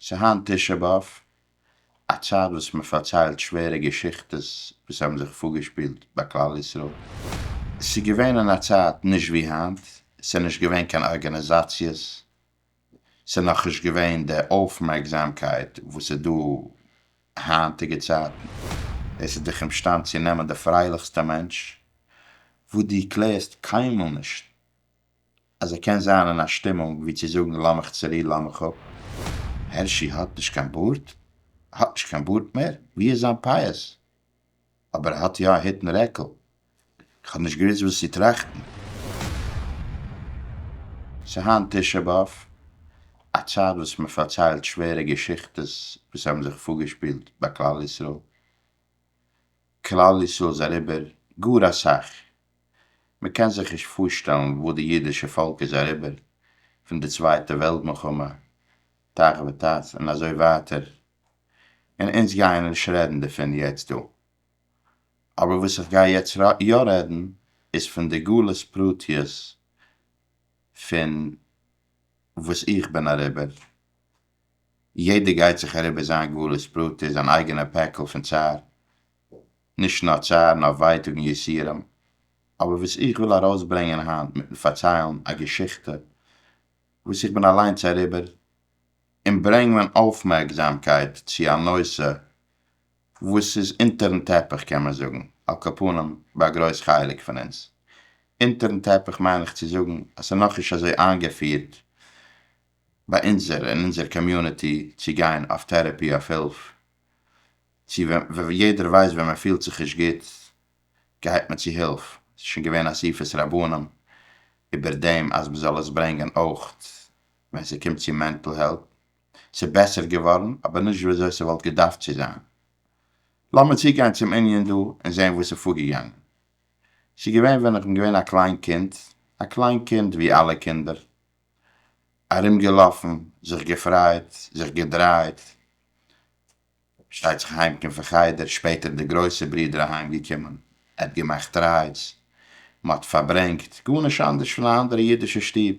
ס'היינט תשעה באב, א צייט וואס מען פארציילט שווערע געשיכטעס וואס האבן זיך פארגעשפילט ביי כלל ישראל. ס'איז געווען אין א צייט נישט ווי היינט, ס'איז נישט געווען קיין ארגאניזאציעס, ס'איז נאכנישט געווען די אויפמערקזאמקייט וואס איז דא היינטיגע צייטן. עס איז דיך אומשטאנד צו נעמען די פרייליכסטע מענטש וואס דו קלערסט קיינמאל נישט אז ער קען זיין אין א שטימונג ווי צו זאגן לאמיך צורו לאמיך אפ. הערשי האט נישט קיין בארד? ער האט נישט קיין בארד מער? ווי איז זיין פאות? אבער ער האט יא א הוט און רעקל. איך האב נישט געוויסט וואס צו טראכטן. ס'היינט תשעה באב, א צייט וואס מען פארציילט שווערע געשיכטעס וואס האבן זיך פארגעשפילט ביי כלל ישראל. כלל ישראל איז אריבער גאר אסאך. מען קען זיך נישט פארשטעלן וואס די אידישע פאלק איז אריבער פון די צווייטע וועלט מלחמה תח ותט און אזוי ווייטער און אונז גייען נישט רעדן דערפון יעצט דא אבער וואס איך גיי יעצט יא רעדן איז פון די גלות פרטיות פון וואס איך בין אריבער יעדער גייט זיך אריבער זיין גלות פרטי זיין אייגענע פעקל פון צער נישט נאר צער נאר ווייטאג און יסורים, אבער וואס איך וויל ארויסברענגען היינט מיטן פארציילן א געשיכטע וואס איך בין אליינס אריבער, און ברענג מיין אויפמערקזאמקייט צו א נושא וואס איז אונטערן טעפיך קען מען זאגן, על כל פנים ביי א גרויס חלק פון אונז, אונטערן טעפיך מיין איך צו זאגן אז ס'איז נאכנישט אזוי איינגעפירט ביי אונזער אין אונזער קאמיוניטי צו גיין אויף טערעפי אויף הילף, צו ווען יעדער ווייסט ווען מען פילט זיך נישט גוט גייט מען צו הילף, עס איז שוין געווען אסיפת רבנים איבער דעם אז מען זאל עס ברענגען אויך ווען ס'קומט צו מענטל העלט, ס'איז בעסער געווארן אבער נישט ווי אזוי ס'וואלט געדארפט צו זיין. לאמיר צוגיין צום ענין דא און זען וואס איז פארגעגאנגען. ס'איז געווען ווען איך בין געווען א קליין קינד, א קליין קינד ווי אלע קינדער, ארומגעלאפן, זיך געפרייט, זיך געדרייט, שטייט זיך אהיים קום פון חדר, שפעטער די גרויסע ברודער אהיים געקומען, ער האט געמאכט רייז, מען האט פארברענגט, גארנישט אנדערש פון א אנדערע אידישע שטוב.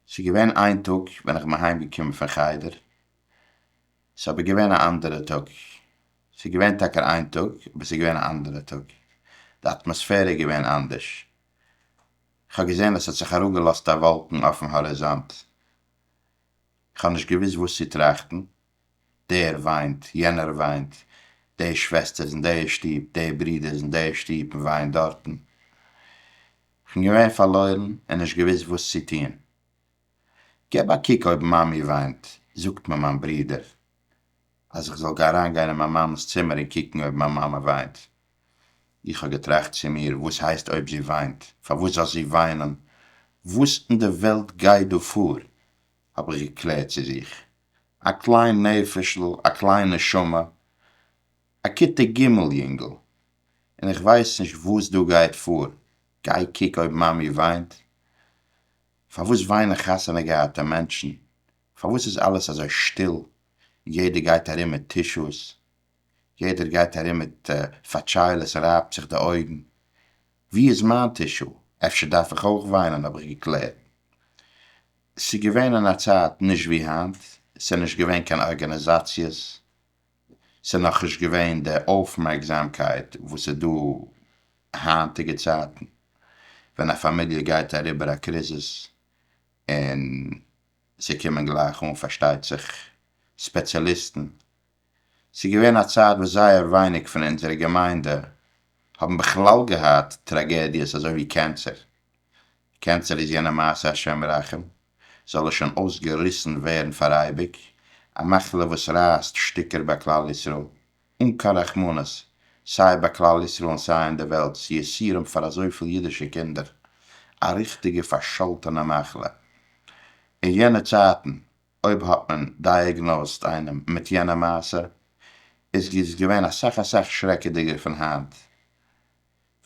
ס'איז געווען איין טאג ווען איך בין אהיים געקומען פון חדר, ס'איז אבער געווען א אנדערע טאג, ס'איז געווען טאקע איין טאג אבער ס'איז געווען א אנדערע טאג, די אטמאספערע איז געווען אנדערש, איך האב געזען אז ס'האט זיך אראפ געלאזט א וואלקן אויפן האריזאנט, כ'האב נישט געוואוסט וואס צו טראכטן, דער וויינט, יענער וויינט, די שוועסטער איז אין די שטוב, די ברודער איז אין די שטוב און וויינט דארטן. כ'בין געווען פארלוירן און נישט געוואוסט וואס צו טון. געב א קוק אויב מאמי וויינט, זאגט מיר מיין ברודער. אז איך זאל אריינגיין אין מיין מאמע'ס צימער און קוקן אויב מיין מאמע וויינט. איך האב געטראכט צו מיר, וואס הייסט אויב זי וויינט? פארוואס זאל זי וויינען? וואס אין די וועלט גייט דא פאר? האב איך געקלערט צו זיך. א קליין נפש'ל, א קליין נשמה, א כיתה ג' יונגל, און איך ווייס נישט וואס דא גייט פאר, גיי קוק אויב מאמי וויינט? פארוואס וויינען חתונה געהאטע מענטשן? פארוואס איז אלעס אזוי שטיל, יעדער גייט ארום מיט טישוס, יעדער גייט ארום מיט פאטשיילעס און רייבט זיך די אויגן, ווי איז מיין טישו, אפשר דארף איך אויך וויינען האב איך געקלערט. ס'איז געווען אין א צייט נישט ווי היינט, ס'איז נישט געווען קיין ארגאניזאציעס, ס'איז נאכנישט געווען די אויפמערקזאמקייט וואס איז דא היינטיגע צייטן, ווען א פאמיליע גייט אריבער א קריזיס און ס'קומען גלייך אן פארשטייט זיך ספעציאליסטן. ס'איז געווען א צייט וואס זייער ווייניג פון אונזערע געמיינדע האבן בכלל געהאט טראגעדיעס אזוי ווי קענסער. קענסער איז יענע מעשה השם ירחם, זאל עס שוין אויסגעריסן ווערן פאר אייביג, א מחלה וואס רייסט שטיקער ביי כלל ישראל, אן קיין רחמנות, סיי ביי כלל ישראל און סיי אין די וועלט'ס יסורים פאר אזויפיל אידישע קינדער, א ריכטיגע פארשאלטענע מחלה. אין יענע צייטן אויב האט מען דייעגנאוזט איינעם מיט יענע מעשה איז איז געווען אסאך אסאך שרעקעדיגער פון היינט.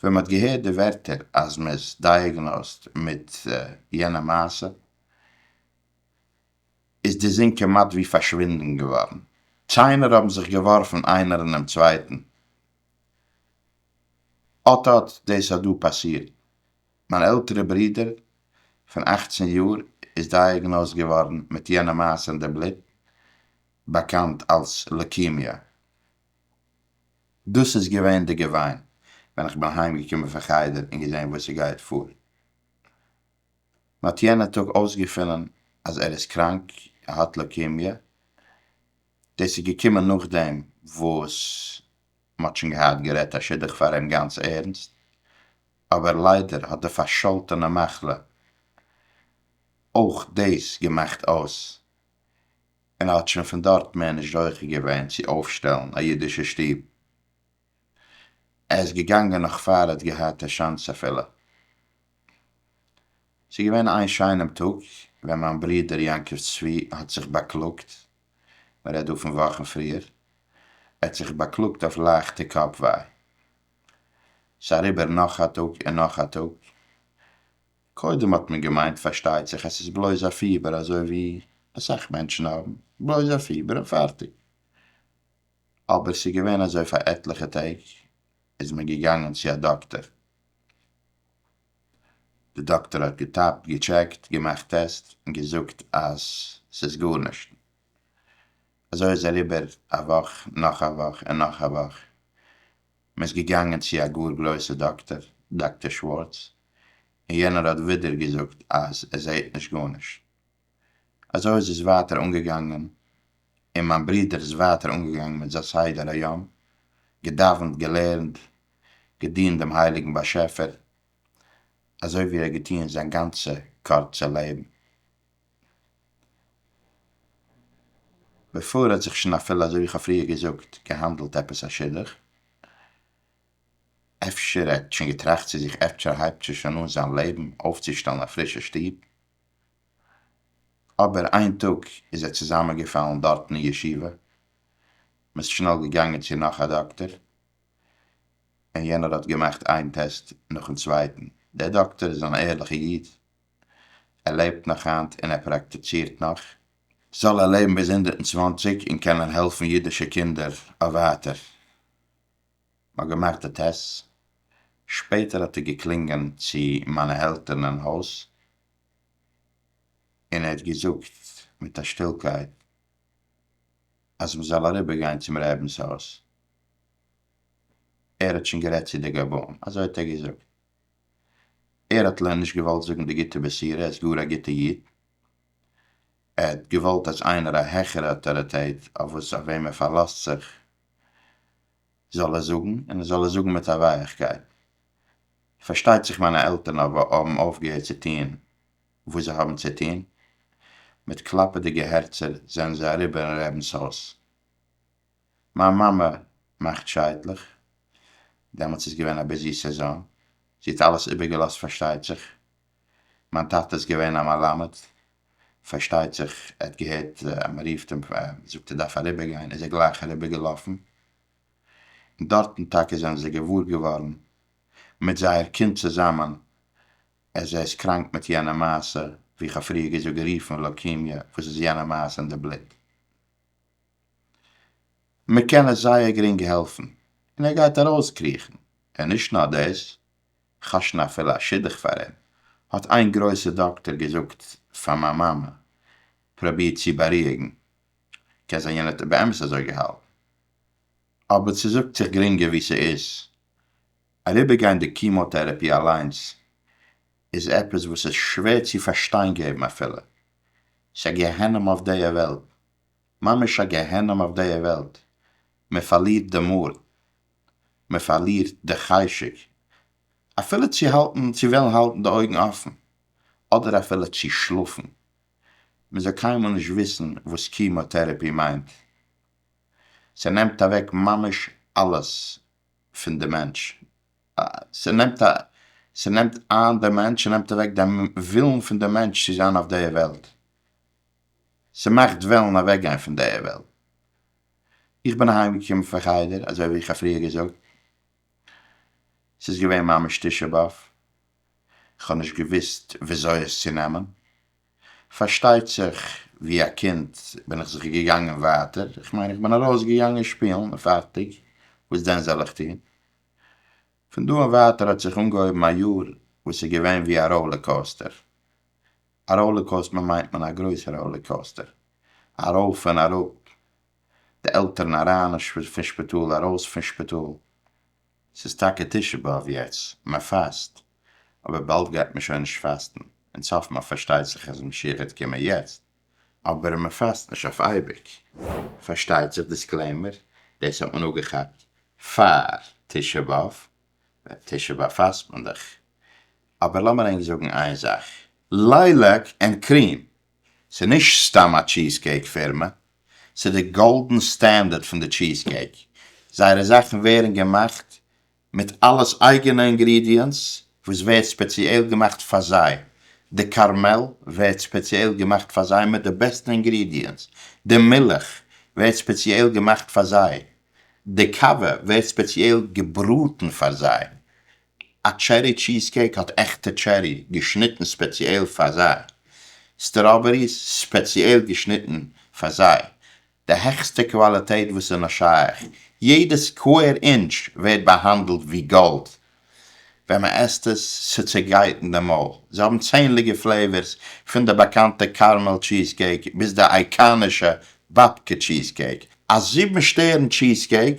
ווען מ'האט געהערט די ווערטער אז מ'איז דייעגנאוזט מיט יענע מעשה, איז די זון כמעט ווי פארשווינדן געווארן, ציינער האבן זיך געווארפן איינער אינעם צווייטן, אט אט דאס האט דא פאסירט, מיין עלטערע ברודער פון אכצן יאר איז דייעגנאזט געווארן מיט יענע מאס אין די בלוט, באקאנט אלס לוקימיע. דאס איז געווען די געוויין ווען איך בין אהיימגעקומען פון חדר און געזען וואס ס'גייט פאר. מען האט יענע טאג אויסגעפונען אז ער איז קראנק, ער האט לוקימיע, דאס איז געקומען נאכדעם וואס מען האט שוין געהאט גערעדט א שידוך פאר אים גאנץ ערנסט, אבער ליידער האט די פארשאלטענע מחלה אויך דאס געמאכט אויס, און ער האט שוין פון דארט מער נישט זוכה געווען צו אויפשטעלן א אידישע שטוב, ער איז געגאנגען נאך פאר ער האט געהאט א שאנס אפילו. ס'איז געווען איין שיינעם טאג ווען מיין ברודער יעקב צבי האט זיך באקלאגט, מען רעדט דא פון וואכן פריער, ער האט זיך באקלאגט אויף לייכטע קאפ וויי. ס'איז אריבער נאך א טאג און נאך א טאג, קודם האט מען געמיינט פארשטייט זיך אז ס'איז בלויז א פיבער אזוי ווי אסאך מענטשן האבן, בלויז א פיבער און פארטיג. אבער ס'איז געווען אזוי פאר עטליכע טעג, איז מען געגאנגען צו א דאקטער, די דאקטער האט געטאפט, געטשעקט, געמאכט טעסט און געזאגט אז ס'איז גארנישט. אזוי איז אריבער א וואך, נאך א וואך און נאך א וואך, מען איז געגאנגען צו א גאר גרויסע דאקטער, דאקטער שווארץ, און יענער האט ווידער געזאגט אז ער זעהט נישט גארנישט. אזוי איז עס ווייטער אנגעגאנגען און מיין ברודער איז ווייטער אנגעגאנגען מיט זיין סדר היום, געדאווענט, געלערנט, געדינט דעם הייליגן באשעפער, אזוי ווי ער האט געטון זיין גאנצע קורצע לעבן. בעפאר האט זיך שוין אפילו, אזוי ווי איך האב פריער געזאגט, געהאנדלט עפעס א שידוך, אפשר ער האט שוין געטראכט צו זיך אפשר הייבט ער שוין אן זיין לעבן אויפצושטעלן א פרישע שטוב, אבער איין טאג איז ער צוזאמענגעפאלן דארטן אין ישיבה, מ'איז שנעל געגאנגען צו נאך א דאקטער, און יענער האט געמאכט איין טעסט נאכן צווייטן, דער דאקטער איז אן ערליכע איד, ער לעבט נאך היינט און ער פראקטיצירט נאך, זאל ער לעבן ביז הונדערט און צוואנציג און קענען העלפן אידישע קינדער אויף ווייטער. מ'האט געמאכט די טעסט, שפעטער האט ער געקלינגען צו מיינע עלטערן אין הויז, און ער האט געזאגט מיט א שטילקייט אז מ'זאל אריבער גיין צום רעבינ'ס הויז, ער האט שוין גערעדט צו די גבאים, אזוי האט ער געזאגט, ער האט ל ע נישט געוואלט זאגן די גוטע בשורה, ער איז גאר א גוטע איד, ער האט געוואלט אז איינער א העכערע אויטאריטעט אויף וואס אויף וועם ער פארלאזט זיך זאל ער זאגן, און ער זאל עס זאגן מיט א ווייעכקייט. פארשטייט זיך מיינע עלטערן אבער האבן אויפגעהערט צו טון וואס זיי האבן צו טון. מיט קלאפעדיגע הערצער זענען זיי אריבער אין רעבנס הויז. מיין מאמע מאכט שייטלעך, דעמאלטס איז געווען א ביזי סעזאן, זי האט אלעס איבערגעלאזט פארשטייט זיך. מיין טאטע איז געווען א מלמד, פארשטייט זיך ער האט געהערט אז מען רופט אים און זאגט ער דארף אריבער גיין איז ער גלייך אריבער געלאפן, און דארטן טאקע זענען זיי געוואר געווארן מיט זייער קינד צוזאמען אז ער איז קראנק מיט יענע מעשה ווי איך האב פריער געזאגט גערופן לוקימיע וואס איז יענע מעשה אין די בלוט. מען קען עס זייער גרינג העלפן און ער גייט ארויסקריכן, און נישט נאר דאס כאשן אפילו א שידוך פאר אים, האט איין גרויסע דאקטער געזאגט פאר מיין מאמע, פראביר צו בארואיגן, קען זיין יענער האט באמת אזוי געהאלטן, אבער ס'זאגט זיך גרינגער ווי ס'איז, אריבערגיין די קימאטערעפי אליינס איז עפעס וואס איז שווער צו פארשטיין געבן אפילו, ס'א גיהנום אויף דעיע וועלט, ממש א גיהנום אויף דעיע וועלט, מ'פארלירט די מורא, מען פארלירט די חשק אפילו צו האלטן צו וועלן האלטן די אויגן אפן, אדער אפילו צו שלאפן, מען זאל קיינמאל נישט וויסן וואס קימאטערעפי מיינט, ס'נעמט אוועק ממש אלעס פון די מענטש, ס'נעמט ס'נעמט איין די מענטש, ס'נעמט אוועק די ווילן פון די מענטש צו זיין אויף די וועלט, ס'מאכט וועלן אוועקגיין פון די וועלט, איך בין אהיים געקומען פון חדר אזוי ווי איך האב פריער געזאגט, עס איז געווען ממש תשעה באב, איך האב נישט געוויסט וויאזוי עס צו נעמען, פארשטייט זיך ווי א קינד בין איך זיך געגאנגען ווייטער, איך מיין איך בין ארויס געגאנגען שפילן און פארטיג, וואס דען זאל איך טון? פון דא און ווייטער האט זיך אנגעהויבן א יאר וואס איז געווען ווי א ראולער קאוסטער, א ראולער קאוסטמער מיינט מען א גרויסע ראולער קאוסטער ארויף און אראפ, די עלטערן אריין און פון שפיטאל ארויס פון שפיטאל, ס'איז טאקע תשעה באב יעצט, מען פאסט, אבער באלד גייט מען שוין נישט פאסטן, אין צפת מ פארשטייט זיך אז משיח העט קומען יעצט, אבער מען פאסט נישט אויף אייביג, פארשטייט זיך דיסקלעימער, דאס האט מען אפגעכאפט פאר תשעה באב, ביי תשעה באב פאסט מען דאך, אבער לאמיר ענק זאגן איין זאך, לייליק ענד קריעם ס'איז נישט סתם א טשיז קעיק פירמע, ס'איז די גאלדען סטענדערט פון די טשיז קעיק, זייערע זאכן ווערן געמאכט מיט אלעס אייגענע אינגרידיענטס וואס ווערט ספעציעל געמאכט פאר זיי, די קארמעל ווערט ספעציעל געמאכט פאר זיי מיט די בעסטע אינגרידיענטס, די מילך ווערט ספעציעל געמאכט פאר זיי, די קאווע ווערט ספעציעל געבראטן פאר זיי, א טשערי טשיז קעיק האט עכטע טשערי געשניטן ספעציעל פאר זיי, סטראבעריס ספעציעל געשניטן פאר זיי, די העכסטע קוואליטעט וואס איז נאר שייך, יעדע סקווער אינטש ווערט באהאנדלט ווי גאלד ווען מען עסט עס, ס'צעגייט אין די מויל, זיי האבן צענדליגע פלעיווערס פון די באקאנטע קארמעל טשיז קעיק ביז די אייקאנישע באבקע טשיז קעיק, א זיבן שטערן טשיז קעיק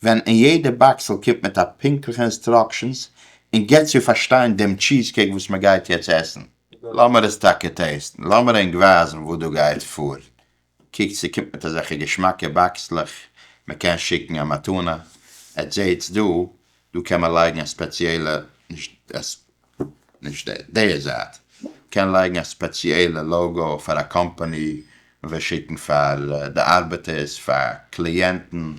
ווען אין יעדע באקסל קומט מיט א פונקטליכע אינסטראקשענס און געט צו פארשטיין דעם טשיז קעיק וואס מען גייט יעצט עסן. לאמיר עס טאקע טעסטן, לאמיר ענק ווייזן וואס דא גייט פאר, קוקטס צו קומט מיט אזעלכע געשמאקע באקסלעך, מען קען שיקן א מתנה, עטס זעהטס דא, דא קען מען לייגן א ספעציעלע נישט עס. נישט די זייט קען לייגן א ספעציעלע לאגא פאר א קאמפאני וועט שיקן פאר די ארבעטערס פאר קליענטן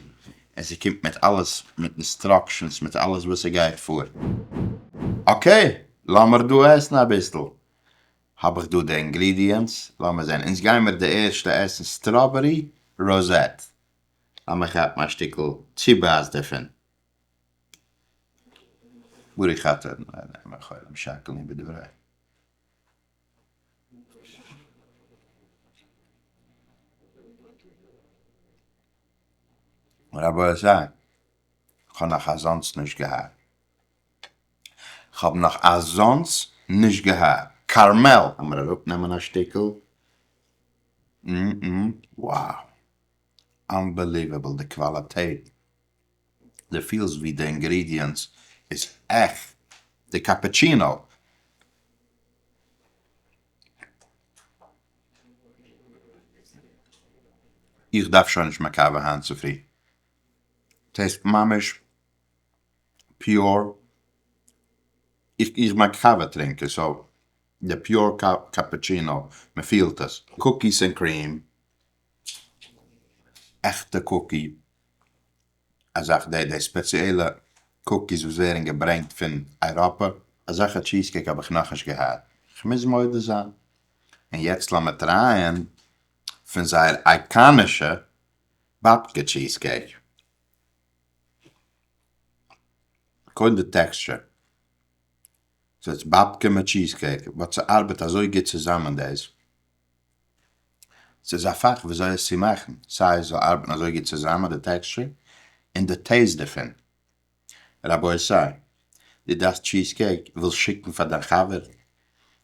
און ס'קומט מיט אלעס מיט אינסטראקשענס מיט אלעס וואס ס'גייט פאר אקעי לאמיר דא עסן אביסל האב איך דא די אינגרידיענטס לאמיר זען אונז גיימיר די ערשטע עסן סטראבערי ראזעט לאמיר כאפן א שטיקל צובייס דערפון ברי חטא אינם חולים שקלין בדברי. רבו ז, כ'האב נאך אזאנס נישט געהערט. כ'האב נאך אזאנס נישט געהערט. כרמל! עמער אראפנעמען א שטיקל. םםם די פילסט ווי די אינגרידיענטס איז עכט די קאפעטשינאו. איך דארף שוין נישט מיין קאווע היינט צופרי, טעיסט ממש פיור, איך בין א קאווע טרינקער סאו די פיור קאפעטשינאו מען פילט עס. קוקיס ענד קריעם. עכטע קוקי אזאך די די ספעציעלע קוקיס וואס ווערן געברענגט פון אייראפע. אזעלכע טשיז קעיק האב איך נאכנישט געהאט כ'מוז מודה זיין, און יעצט לאמיר טרייען פון זייער אייקאנישע באבקע טשיז קעיק, קודם די טעקסטשער, ס'איז באבקע מיט טשיז קעיק באט ס'ארבעט אזוי גוט צוזאמען דאס. ס'איז א פאך וויאזוי עס צו מאכן, סיי עס זאל ארבעטן אזוי גוט צוזאמען די טעקסטשער און די טעיסט דערפון. רבותי, דו דארפסט טשיז קעיק, ווילסט שיקן פאר דיין חבר,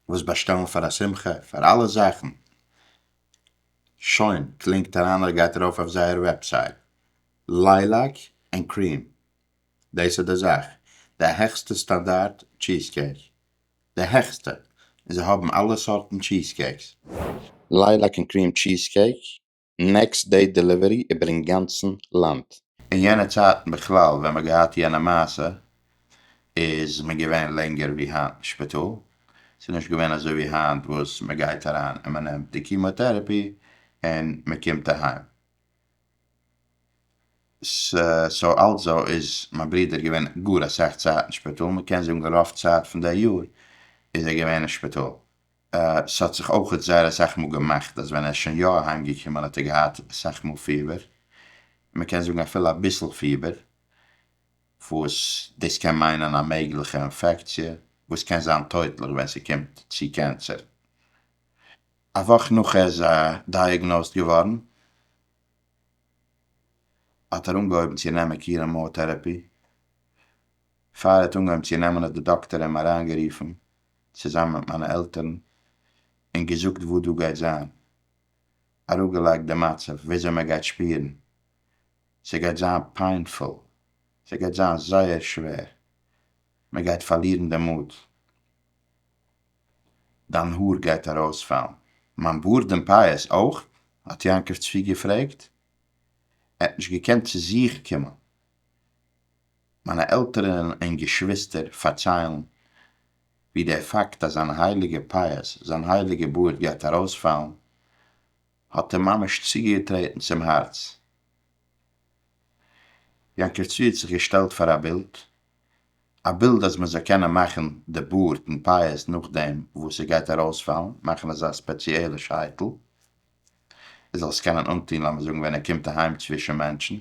ווילסט באשטעלן פאר א שמחה, פאר אלע זאכן, שוין, קלינקט אריין אדער גייט ארויף אויף זייער וועבסייט, ליילעק ענד קריעם, דאס איז די זאך, די העכסטע סטאנדארט טשיז קעיק, די העכסטע, און זיי האבן אלע סארטן טשיז קעיקס. לייליק און קריעם טשיז קעיק, נעקסט דעי דעליווערי איבער אינגאנצן לאנד. אין יענע צייטן בכלל ווען מ'האט געהאט יענע מעשה איז מען געווען לענגער ווי היינט אין שפיטאל, ס'איז נישט געווען אזוי ווי היינט וואס מ'גייט אריין און מ'נעמט די קימאטערעפי און מ'קומט אהיים, סאו אלזא איז מיין ברודער געווען גאר אסאך צייט אין שפיטאל, מען קען זאגן רוב צייט פון די יאר איז ער געווען אין שפיטאל, ס'האט זיך אויכעט זייער אסאך מאל געמאכט אז ווען ער איז שוין יא אהיים געקומען האט ער געהאט אסאך מאל פיבער, מען קען זאגן אפילו אביסל פיבער, וואס דאס קען מיינען א מעגליכע אינפעקציע וואס קען זיין טויטליך ווען ס'קומט צו קענסער. א וואך נאך ער איז דייעגנאוזד געווארן האט ער אנגעהויבן צו נעמען קיראמאטערעפי, פאר ער האט אנגעהויבן צו נעמען האט די דאקטער אים אריינגערופן צוזאמען מיט מיינע עלטערן און געזאגט וואס דא גייט זיין, אראפגעלייגט די מצב וויאזוי מען גייט שפירן, ס'גייט זיין פעינפול, ס'גייט זיין זייער שווער, מען גייט פארלירן די מוט. דיין האר גייט ארויספאלן, מיין בארד און פאות אויך? האט יעקב צבי געפרעגט. ער האט נישט געקענט צו זיך קומען. מיינע עלטערן און געשוויסטער פארציילן ווי דער פאקט אז זיין הייליגע פאות, זיין הייליגע בארד גייט ארויספאלן, האט אים ממש צוגעטרעטן צום הארץ. יעקב צבי האט זיך געשטעלט פאר א בילד א בילד אז מען זאל קענען מאכן די בארד און פאות נאכדעם וואס ס'גייט ארויספאלן, מאכן אזא ספעציעלע שייטל ער זאל עס קענען אנטון לאמיר זאגן ווען ער קומט אהיים צווישן מענטשן.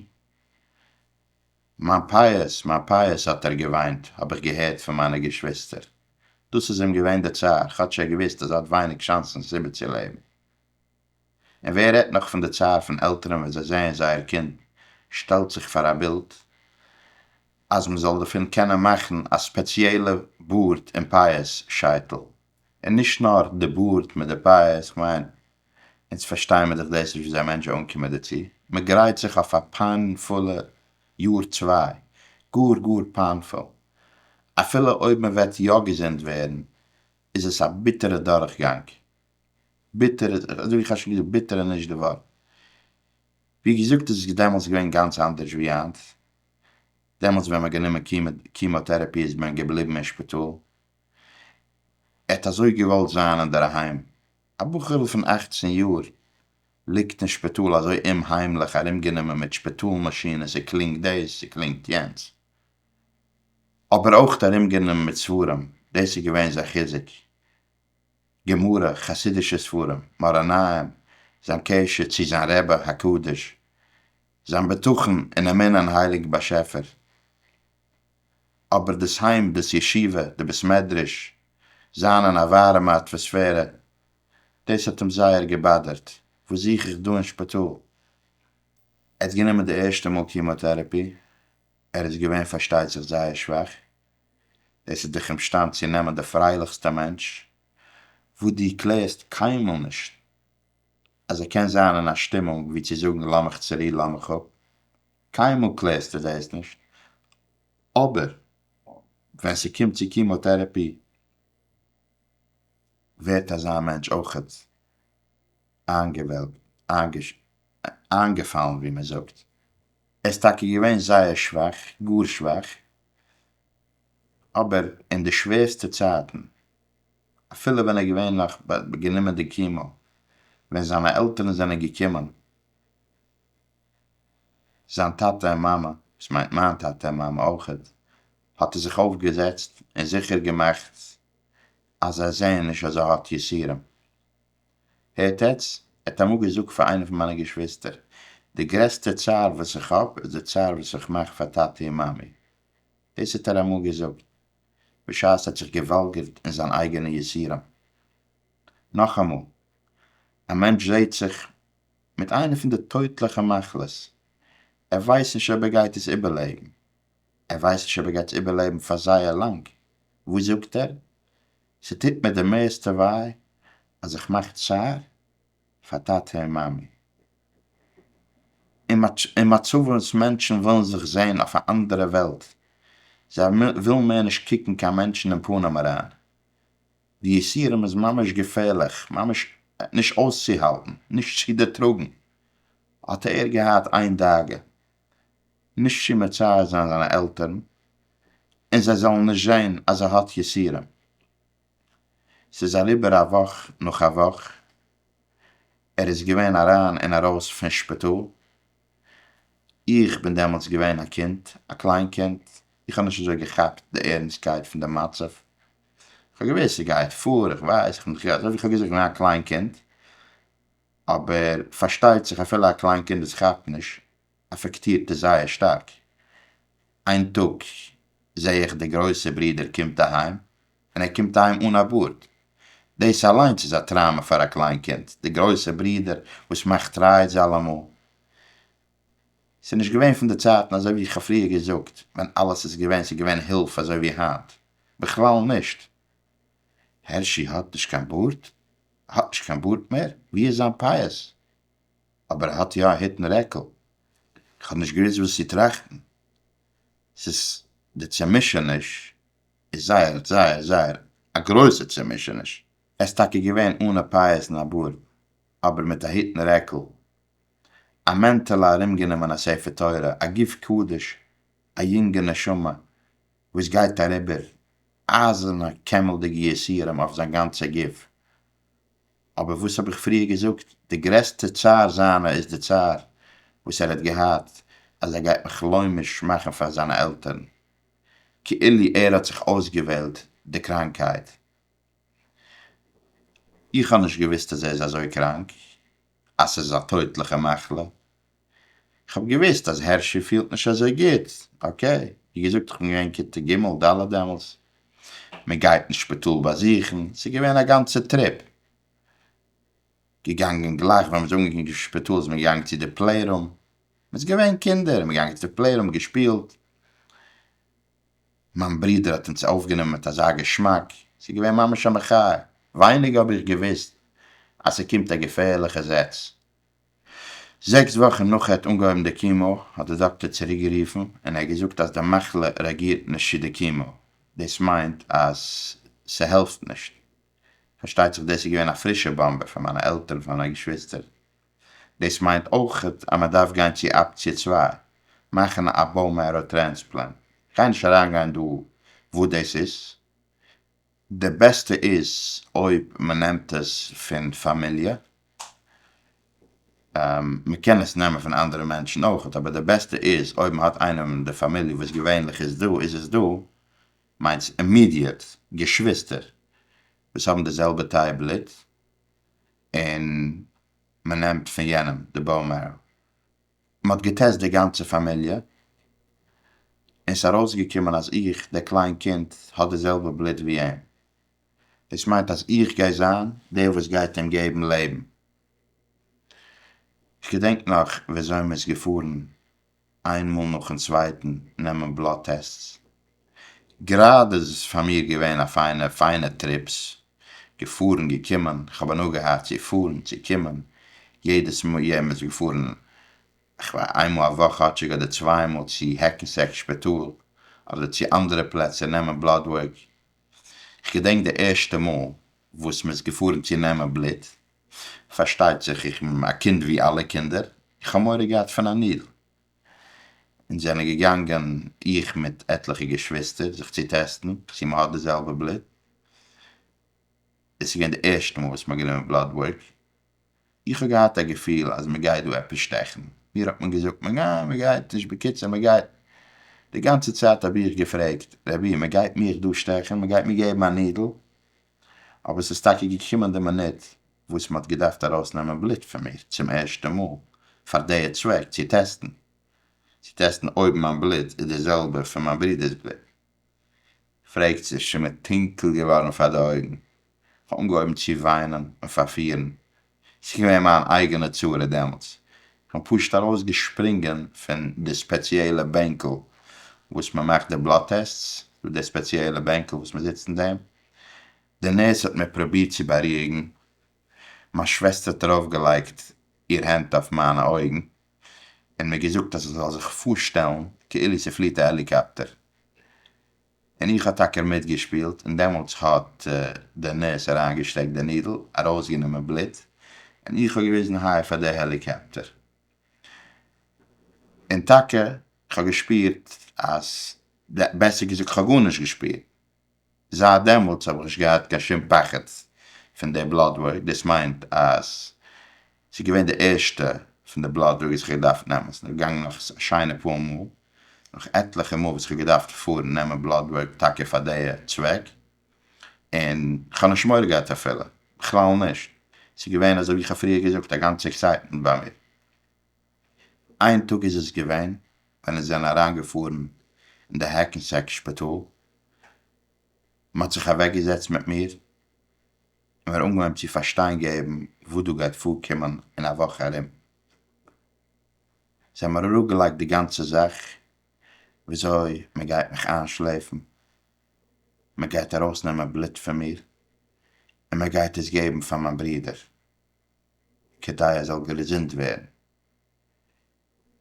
מיין פאות, מיין פאות האט ער געוויינט האב איך געהערט פון מיינע געשוויסטער. דאס איז אים געווען די צער, כאטש ער האט געוואוסט אז ער האט ווייניג שאנסן איבערצולעבן. און ווער רעדט נאך פון די צער פון עלטערן ווען זיי זעען זייער קינד שטעלט זיך פאר א בילד אז מען זאל דערפון קענען מאכן א ספעציעלע בארד און פאות שייטל, און נישט נאר די בארד מיט די פאות, כ'מיין אונז פארשטייען מיר דאך דאס נישט וויאזוי א מענטש זאל אנקומען דערצו, מען גרייט זיך אויף א פיינפולע יאר צוויי, גאר גאר פיינפול, אפילו אויב מען וועט יא געזונט ווערן איז עס א ביטערע דורכגאנג, ביטער, אזוי ווי איך האב שוין געזאגט, ביטער איז נישט די ווארט. ווי געזאגט איז עס דעמאלטס געווען גאנץ אנדערש ווי היינט. דעמאלטס ווען מ'האט גענומען קימאטערעפי איז מען געבליבן אין שפיטאל. ער האט אזוי געוואלט זיין אינדערהיים. א בחור'ל פון אכצן יאר ליגט אין שפיטאל אזוי אומהיימליך ארומגענומען מיט שפיטאל מאשינען, ס'קלינגט דאס, ס'קלינגט יענץ. אבער אויך ארומגענומען מיט ספרים, דאס איז געווען זיין חיזוק. גמרא, חסידישע ספרים, מאראניים, זיין קשר צו זיין רבי הקדוש, זיין בטחון און אמונה אין הייליגן באשעפער, אבער דאס היים, דאס ישיבה, די בית מדרש, זיין אין א ווארעמע אטוואספערע, דאס האט אים זייער געבאדערט, וואס זוך איך דא אין שפיטאל? ער האט גענומען די ערשטע מאל קימאטערעפי, ער איז געווען פארשטייט זיך זייער שוואך, דאס איז דיך אומשטאנד צו נעמען די פרייליכסטע מענטש וואס דו קלערסט קיינמאל נישט אז ער קען זיין אין א שטימונג ווי צו זאגן לאמיך צורו לאמיך אפ, קיינמאל קלערסטו דאס נישט, אבער ווען ס'קומט צו קימאטערעפי ווערט אזא מענטש אויכעט איינגעוועלקט, איינגעפאלן ווי מ'זאגט, ער איז טאקע געווען זייער שוואך, גאר שוואך, אבער אין די שווערסטע צייטן, אפילו ווען ער האט געווענליך גענומען די קימאו, ווען זיינע עלטערן זענען געקומען, זיין טאטע און מאמע, וואס מיינט מיין טאטע און מאמע אויך, האט ער זיך אויפגעזעצט און זיכער געמאכט אז זיי זעען נישט אז ער האט יסורים. הערט עטס, ער האט אמאל געזאגט פאר איינע פון מיינע געשוויסטער, די גרעסטע צער וואס איך האב איז די צער וואס איך מאך פאר טאטי און מאמי. דאס האט ער אמאל געזאגט בשעת ער האט זיך געוואלגערט אין זיין אייגענע יסורים. נאכאמאל, א מענטש זעהט זיך מיט איינע פון די טויטליכע מחלות, ער ווייסט נישט אויב ער גייט עס איבערלעבן, ער ווייסט נישט אויב ער גייט עס איבערלעבן פאר זייער לאנג, וואס זאגט ער? ס'טוט מיר די מערסטע וויי אז איך מאך צער פאר טאטע און מאמי. אין מצב וואס מענטשן ווילן זיך זען אויף א אנדערע וועלט, זיי ווילן מער נישט קוקן קיין מענטשן אין פנים אריין, די יסורים איז ממש געפערליך, ממש נישט אויסצוהאלטן, נישט צו דערטראגן, האט ער געהאט איין דאגה, נישט צו מצער זיין זיינע עלטערן און זיי זאלן נישט זען אז ער האט יסורים. ס'איז אריבער א וואך נאך א וואך, ער איז געווען אריין און ארויס פון שפיטאל, איך בין דעמאלטס געווען א קינד, א קליין קינד, איך האב נישט אזוי געכאפט די ערנסטקייט פון די מצב, כ'האב געוואוסט ס'גייט פאר, איך ווייס, אזוי ווי כ'האב געזאגט, כ'בין געווען א קליין קינד, אבער פארשטייט זיך אפילו א קליין קינד וואס כאפט נישט אפעקטירט עס זייער שטארק. איין טאג זעה איך די גרויסע ברודער קומט אהיים און ער קומט אהיים אן א בארד. דאס אליינס איז א טראומא פאר א קליין קינד, די גרויסע ברודער וואס מאכט רייד זיי אלעמאל. ס'איז נישט געווען פון די צייטן אזוי ווי איך האב פריער געזאגט ווען אלעס איז געווען ס'איז געווען הילף אזוי ווי היינט. בכלל נישט. הערשי האט נישט קיין בארד? ער האט נישט קיין בארד מער, ווי איז זיין פייעס? אבער ער האט יא א היט און רעקל. איך האב נישט געוואוסט וואס צו טראכטן. ס'איז די צומישעניש איז זייער זייער זייער א גרויסע צומישעניש. ער איז טאקע געווען אן א פייעס און א בארד, אבער מיט א היט און רעקל, א מענטעלע ארומגענומען א ספר תורה, א גוף קדוש, א יונגע נשמה וואס גייט אריבער אייזערנע קעמלדיגע יסורים אויף זיין גאנצע גוף. אבער וואס האב איך פריער געזאגט, די גרעסטע צער זיינע איז די צער וואס ער האט געהאט אז ער גייט מיך לוימיש מאכן פאר זיינע עלטערן. כאילו ער האט זיך אויסגעוועלט די קראנקייט. איך האב נישט געוואוסט אז ער איז אזוי קראנק, אז ס'איז א טויטליכע מחלה. איך האב געוויסט אז הערשי פילט נישט אזוי גוט, אקעי, ווי געזאגט איך בין געווען כיתה ג' ד' דעמאלס, מען גייט אין שפיטאל באזוכן, ס'איז געווען א גאנצע טריפ, געגאנגען גלייך ווען מ'איז אנגעקומען צום שפיטאל איז מען געגאנגען צו די פלעי רום, מ'איז געווען קינדער, מ'איז געגאנגען צו די פלעי רום, געשפילט, מיין ברודער האט אונז אויפגענומען מיט אזא געשמאק, ס'איז געווען ממש א מחיה, ווייניג האב איך געוויסט אז ס'קומט א געפערליכע זעץ, זעקס וואכן נאך ער האט אנגעהויבן די קימאו האט די דאקטער צוריקגערופן און ער האט געזאגט אז די מחלה רעאגירט נישט צו די קימאו, דאס מיינט אז ס'העלפט נישט. פארשטייט זיך דאס איז געווען א פרישע באמבע פאר מיינע עלטערן פאר מיינע געשוויסטער. דאס מיינט אויכעט אז מ'דארף גיין צו אפציע צוויי, מאכן א באון מערא טרענספלענט. כ'גיי נישט אריינגיין דא וואס דאס איז, די בעסטע איז אויב מ'נעמט עס פון פאמיליע, מ'קען עס נעמען פון אנדערע מענטשן אויכעט, אבער די בעסטע איז אויב מ'האט איינעם אין די פאמיליע וואס געווענליך איז דא איז עס דא מיינס אימידיעט געשוויסטער וואס האבן די זעלבע תאי בלוט און מ'נעמט פון יענעם די באון מערא. מען האט געטעסט די גאנצע פאמיליע, און ס'איז ארויסגעקומען אז איך, דער קליין קינד, האט די זעלבע בלוט ווי אים. דאס מיינט אז איך גיי זיין דער וואס גייט אים געבן לעבן. כ'געדענק נאך וויאזוי מ'איז געפארן איינמאל נאכן צווייטן נעמען בלאט טעסטס. גראדע איז עס פאר מיר געווען א פיינע פיינע טריפס, געפארן געקומען, איך האב הנאה געהאט צו פארן צו קומען, יעדעס מאל יעדעם איז געפארן כ'וויי איינמאל א וואך כאטשיג אדער צוויי מאל צו העקענסעק שפיטאל אדער צו אנדערע פלעצער נעמען בלאד ווארק, כ'געדענק די ערשטע מאל וואס מ'איז געפארן צו נעמען בלוט, פארשטייט זיך איך בין א קינד ווי אלע קינדער, איך האב מורא געהאט פון א נידל. אונז זענען געגאנגען, איך מיט עטליכע געשוויסטער, זיך צו טעסטן צו מ'האט די זעלבע בלוט. עס איז געווען די ערשטע מאל וואס מ'האט גענומען בלאד ווארק. איך האב געהאט א געפיל אז מ'גייט דא עפעס שטעכן. מיר האט מען געזאגט מען ניין מ'גייט נישט בקיצור מ'גייט. די גאנצע צייט האב איך געפרעגט רבי מ'גייט מיך דא שטעכן? מ'גייט מיר געבן א נידל? אבער ס'איז טאקע געקומען די מינוט וואס מ'האט געדארפט ארויסנעמען בלוט פון מיר צום ערשטע מאל פאר דעיע צוועק צו טעסטן צו טעסטן אויב מיין בלוט איז די זעלבע פון מיין ברודער'ס בלוט פרעגט זיך שוין מיר טונקל געווארן פאר די אויגן כ'האב אנגעהויבן צו וויינען און פארפירן ס'איז געווען מיין אייגענע צרה דעמאלטס, כ'בין פשוט ארויס געשפרינגען פון די ספעציעלע בענקל וואס מען מאכט די בלאט טעסטס, ס'דא די ספעציעלע בענקל וואס מען זיצט אין דעם, די נערס האט מיר פרובירט צו בארואיגן, מיין שוועסטער האט ארויף געלייגט איר הענט אויף מיינע אויגן און מיר געזאגט אז איך זאל זיך פארשטעלן כאילו ס'פליט א העליקאפטער, און איך האב טאקע מיטגעשפילט, און דעמאלטס האט דער נורס אריינגעשטעקט די נידל, ארויסגענומען בלוט, און איך האב געוויזן היי פאר די העליקאפטער, און טאקע כ'האב געשפירט אז, בעסער געזאגט כ'האב גארנישט געשפירט, זייט דעמאלטס האב איך נישט געהאט קיין שום פחד פון די בלאט ווארק, דאס מיינט אז ס'איז געווען די ערשטע פון די בלאט דראג וואס איך האב געדארפט נעמען, ס'איז נאך געגאנגען נאך א שיינע פאר מאל, נאך עטליכע מאל וואס איך האב געדארפט פארן נעמען בלאט ווארק טאקע פאר די צוועק, און כ'האב נישט מורא געהאט אפילו, בכלל נישט, ס'איז געווען אזוי ווי כ'האב פריער געזאגט א גאנצע עקסייטמענט ביי מיר. איין טאג איז עס געווען ווען אונז זענען אריין געפארן אין די העקענסעק שפיטאל, מ'האט זיך אוועק געזעצט מיט מיר, און מיר אנגעהויבן צו פארשטיין געבן וואס דא גייט פארקומען אין א וואך ארום, זיי האבן מיר אראפגעלייגט די גאנצע זאך וויאזוי מען גייט מיך איינשלעפן, מען גייט ארויסנעמען בלוט פון מיר און מען גייט עס געבן פאר מיין ברודער כדי ער זאל געזונט ווערן,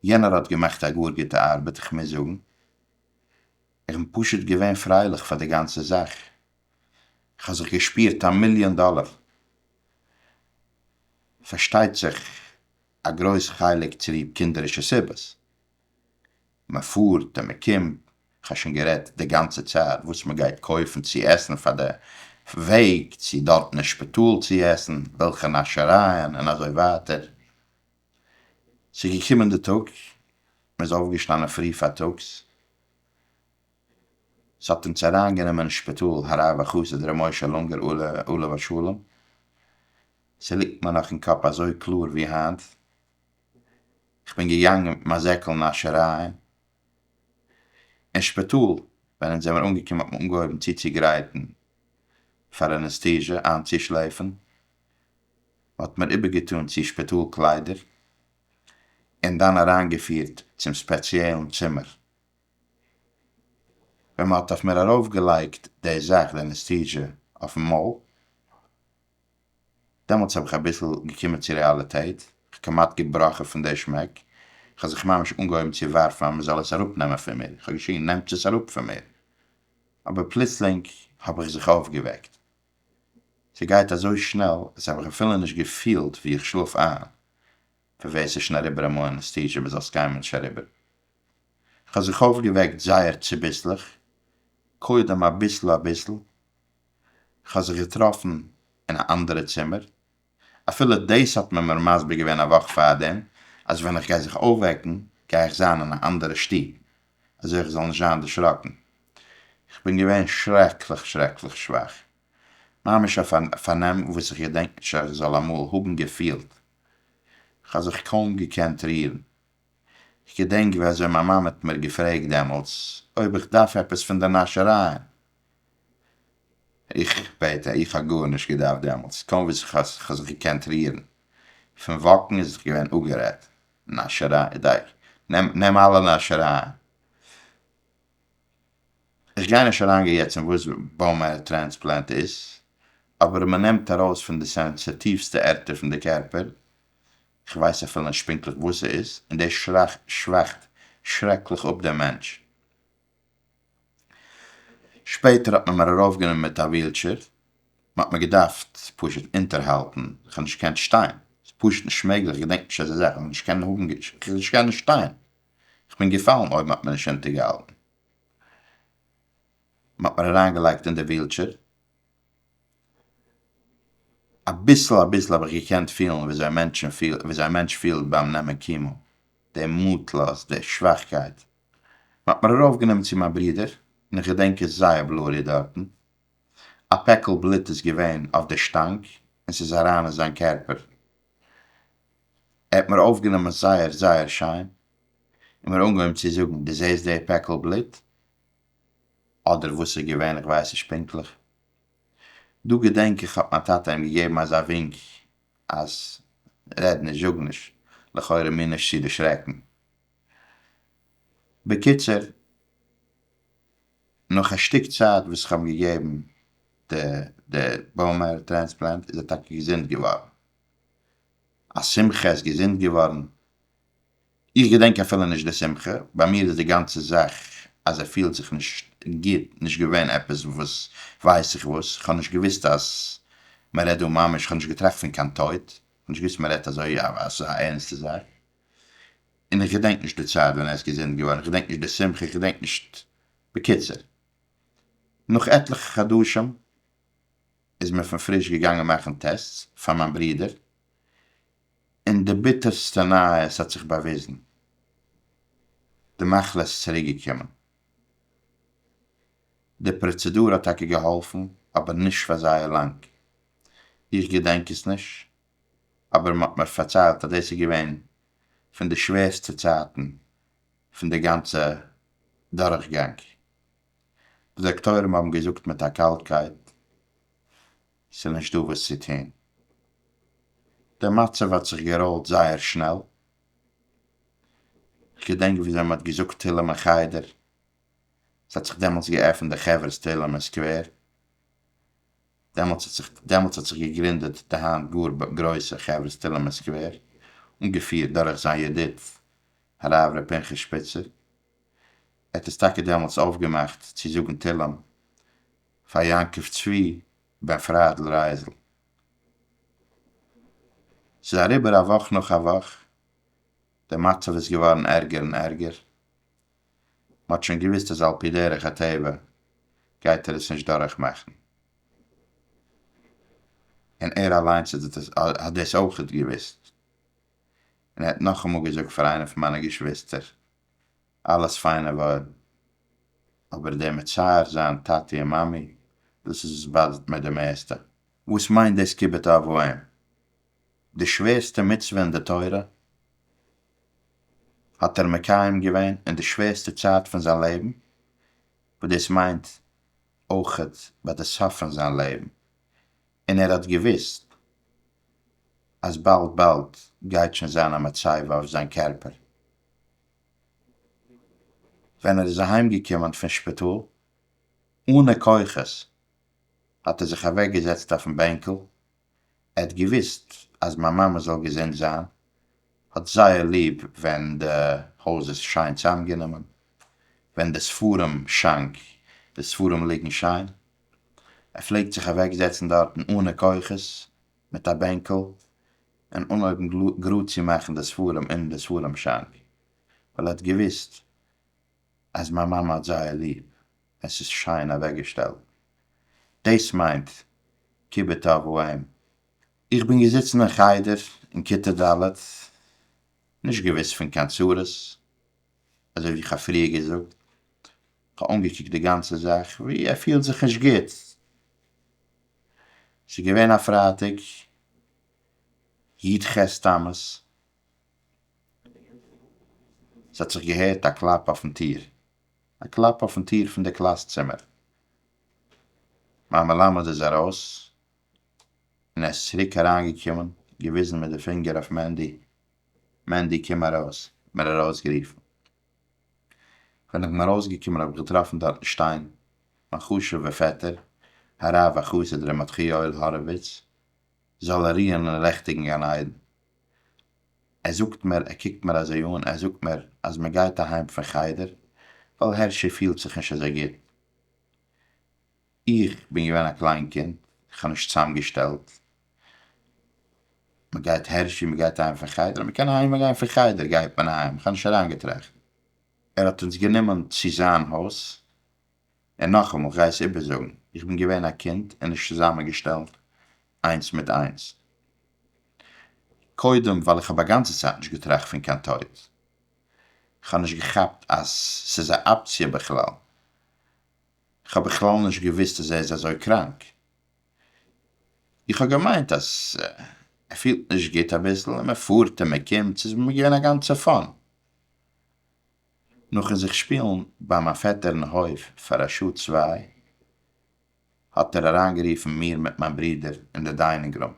יענער האט געמאכט א גאר גוטע ארבעט איך מוז זאגן איך בין פשוט געווען פרייליך פאר די גאנצע זאך איך האב זיך געשפירט א מיליאן דאלער פארשטייט זיך א גרויס חלק צוליב קינדערישע סיבות מען פארט און מען קומט איך האב שוין גערעדט די גאנצע צייט וואס מען גייט קויפן צו עסן פאר די וועג צו דארטן אין שפיטאל צו עסן וועלכע נאשערייען און אזוי ווייטער ס'איז געקומען די טאג, מ'איז אויפגעשטאנען פרי פארטאגס, ס'האט אונז אריינגענומען אין שפיטאל הרב החסיד ר' משה לונגער עליו השלום, ס'ליגט מיר נאך אין קאפ אזוי קלאר ווי היינט, כ'בין געגאנגען מיט מיין זעקל נאשערייען אין שפיטאל, ווען אונז זעמיר אנגעקומען האט מען אנגעהויבן צוצוגרייטן פאר אנעסטיזשע, איינצושלעפן מ'האט מיר איבערגעטאן צו שפיטאל קליידער און דאן אריינגעפירט צום ספעציעלן צימער ווען מ'האט אויף מיר ארויפגעלייגט די זאך, די אנעסטיזשע, אויפן מויל. דעמאלטס האב איך אביסל געקומען צו רעאליטעט, כ'האב כמעט געבראכן פון די שמעק, כ'האב זיך ממש אנגעהויבן צו ווארפן אז מ'זאל עס אראפנעמען פון מיר, כ'האב געשריגן נעמטס עס אראפ פון מיר! אבער פלוצלינג האב איך זיך אויפגעוועקט, ס'גייט אזוי שנעל אז האב איך אפילו נישט געפילט ווי איך שלאף איין, פון ווער ס'איז שוין אריבער אמאל אנעסטיזשע ביז אלס קיין מענטש אריבער. כ'האב זיך אויפגעוועקט זייער צוביסלעך, קודם אביסל אביסל, כ'האב זיך געטראפן אין א אנדערע צימער, אפילו דאס האט מען מיר מסביר געווען א וואך פארדעם, אז ווען איך גיי זיך אויפוועקן גיי איך זיין אין א אנדערע שטוב, אזוי איך זאל נישט זיין דערשראקן. איך בין געווען שרעקליך שרעקליך שוואך, ממש אויף א פארנעם וואס איך געדענק נישט אז איך זאל אמאל האבן געפילט. כ'האב זיך קוים געקענט רירן. איך געדענק ווי אזוי מיין מאמע האט מיר געפרעגט דעמאלטס אויב איך דארף עפעס פון די נאשערייען, איך בעט אייך, איך האב גארנישט געדארפט דעמאלטס, קוים וואס איך האב זיך געקענט רירן, פון וואקן איז זיך געווען אפגערעדט, נאשעריי, דייקא, נעם, נעם אלע נאשערייען. איך גיי נישט אריינגיין יעצט אין וואס באון מערא טרענספלענט איז, אבער מען נעמט ארויס פון די סענסיטיווסטע ערטער פון די קערפער כ'ווייס אפילו נישט פונקטליך וואס ס'איז, און דאס שוואכט שרעקליך אפ דעם מענטש. שפעטער האט מען מיר ארויפגענומען מיט א ווילטשעיר, מ'האט מיר געדארפט פשוט אונטערהאלטן, כ'האב נישט געקענט שטיין, ס'איז פשוט נישט מעגליך, כ'געדענק נישט אזא זאך, כ'האב נישט קענען האבן, נישט קענען שטיין, כ'בין געפאלן אויב מ'האט מיר נישט אונטערגעהאלטן. מ'האט מיר אריינגעלייגט אין די ווילטשעיר. אביסל אביסל האב איך געקענט פילן וויאזוי א מענטש פילט ביים נעמען קימאו, די מוטלאז, די שוואכקייט. מ'האט מיר ארויפגענומען צו מיין ברודער, און איך געדענק עס זייער בלורי דארטן. א פעקל בלוט איז געווען אויף די שטאנג, און ס'איז אריין אין זיין קערפער. ער האט מיר אויפגענומען זייער זייער שיין, און מיר אנגעהויבן צו זאגן, דו זעסט די פעקל בלוט? אדער וואס ס'איז געווען איך ווייס נישט פונקטליך, דא געדענק איך האט מיין טאטע אים געגעבן אזא ווינק אז רעד נישט זאג נישט לכאורה מיר נישט צו דערשרעקן. בקיצור נאך א שטיק צייט וואס איך האב אים געגעבן די די באון מערא טרענספלענט איז ער טאקע געזונט געווארן, א שמחה ער איז געזונט געווארן, איך געדענק אפילו נישט די שמחה, ביי מיר איז די גאנצע זאך אז ער פילט זיך נישט גוט נישט געווען עפעס וואס ווייס איך וואס, איך האב נישט געוואוסט אז מען רעדט דא ממש, איך האב נישט געטראכט פון קיין טויט, איך האב נישט געוואוסט מען רעדט אזוי אויף אזא ערנסטע זאך, און איך געדענק נישט די צייט ווען ער איז געזונט געווארן, איך געדענק נישט די שמחה, איך געדענק נישט, בקיצור, נאך עטליכע חדשים איז מען פון פריש געגאנגען מאכן טעסטס פאר מיין ברודער, און די ביטערסטע נייעס האט זיך באוויזן, די מחלה איז צוריקגעקומען. די פראצעדור האט טאקע געהאלפן, אבער נישט פאר זייער לאנג. איך געדענק עס נישט, אבער מען האט מיר פארציילט אז דאס איז געווען פון די שווערסטע צייטן פון די גאנצע דורכגאנג. די דאקטוירים האבן געזאגט מיט א קאלטקייט ס'איז נישט דא וואס צו טון. דער מצב האט זיך געראולט זייער שנעל. כ'געדענק וויאזוי מ'האט געזאגט תהלים אין חדר. ס'האט זיך דעמאלטס געעפנט די חברת תהלים אין סקווער. דעמאלטס האט זיך דעמאלטס האט זיך געגרינדעט די היינט גאר גרויסע חברת תהלים אין סקווער, אנגעפירט דורך זיין ידיד הרב ר' פנחס שפיצער. ער האט עס טאקע דעמאלטס אויפגעמאכט צו זאגן תהלים פאר יעקב צבי בן פריידל רייזל. ס'איז אריבער א וואך נאך א וואך, די מצב איז געווארן ערגער און ערגער, מ'האט שוין געוואוסט אז על פי דרך הטבע גייט ער עס נישט דורך מאכן, און ער אליינס איז דאס האט דאס אויכעט געוואוסט, און ער האט נאכאמאל געזאגט פאר איינע פון מיינע געשוויסטער. אלעס פיינע ווארען, אבער דער מצער זיין טאטי און מאמי, דאס איז וואס באדערט מיר די מערסטע. וואס מיינט דאס כיבוד אב ואם? די שווערסטע מצוה אין די תורה האט ער מקיים געווען אין די שווערסטע צייט פון זיין לעבן, וואס דאס מיינט אויכעט ביי די סוף פון זיין לעבן, און ער האט געוואוסט אז באלד באלד גייט שוין זיין א מצבה אויף זיין קערפער. ווען ער איז אהיימגעקומען פון שפיטאל אנע כוחות האט ער זיך אוועקגעזעצט אויפן בענקל, ער האט געוואוסט אז מיין מאמע זאל געזונט זיין האט זייער ליב ווען די הויז איז שיין צאמגענומען, ווען די ספרים שאנק, די ספרים ליגן שיין, ער פלעגט זיך אוועקזעצן דארטן אנע כוחות מיט א בענקל און אנהויבן גראד צו מאכן די ספרים אין די ספרים שאנק, ווייל ער האט געוויסט אז מיין מאמע האט זייער ליב, עס איז שיין אוועקגעשטעלט. דאס מיינט כיבוד אב ואם. איך בין געזיצן אין חדר אין כיתה ד', נישט געוויסט פון קיין צרות, אזוי ווי איך האב פריער געזאגט, איך האב אנגעקוקט די גאנצע זאך ווי ער פילט זיך נישט גוט, ס'איז געווען א פרייטאג י ח תמוז, ס'האט זיך געהערט א קלאפ אויפן טיר, א קלאפ אויפן טיר פון די קלאס צימער, מיין מלמד איז ארויס און ער איז צוריק אריין געקומען, געוויזן מיט די פינגער אויף מענדי, מענדי קום ארויס, מיר ארויסגערופן. ווען איך בין ארויסגעקומען האב איך געטראפן דארטן שטיין מיין חשוב'ער פעטער הרב והחסיד ר' מתחיאל האראוויץ זאל ער רוען אין לעכטיגן גן עדן, ער זאגט מיר, ער קוקט מיר אזוי אן, ער זאגט מיר אז מען גייט אהיים פון חדר ווייל הערשי פילט זיך נישט אזוי גוט, איך בין געווען א קליין קינד, איך האב נישט צוזאמגעשטעלט, מ'גייט הערשי, מ'גייט אהיים פון חדר, אז מ'קען אהיים גיין פון חדר גייט מען אהיים, איך האב נישט אריינגעטראכט, ער האט אונז גענומען צו זיין הויז, און נאכאמאל, כ'גיי עס איבערזאגן, איך בין געווען א קינד און נישט צוזאמענגעשטעלט איינס מיט איינס, קודם ווייל איך האב א גאנצע צייט נישט געטראכט פון קיין טויט, כ'האב נישט געכאפט אז ס'איז א אפציע בכלל. כ'האב בכלל נישט געוואוסט אז ער איז אזוי קראנק. איך האב געמיינט אז ער פילט נישט גוט אביסל און מען פארט און מען קומט, ס'איז מיר געווען א גאנצע פאן. נאכן זיך שפילן ביי מיין פעטער אין הויף פאר א שעה צוויי, האט ער אריינגערופן מיר מיט מיין ברודער אין די דיינונג רום.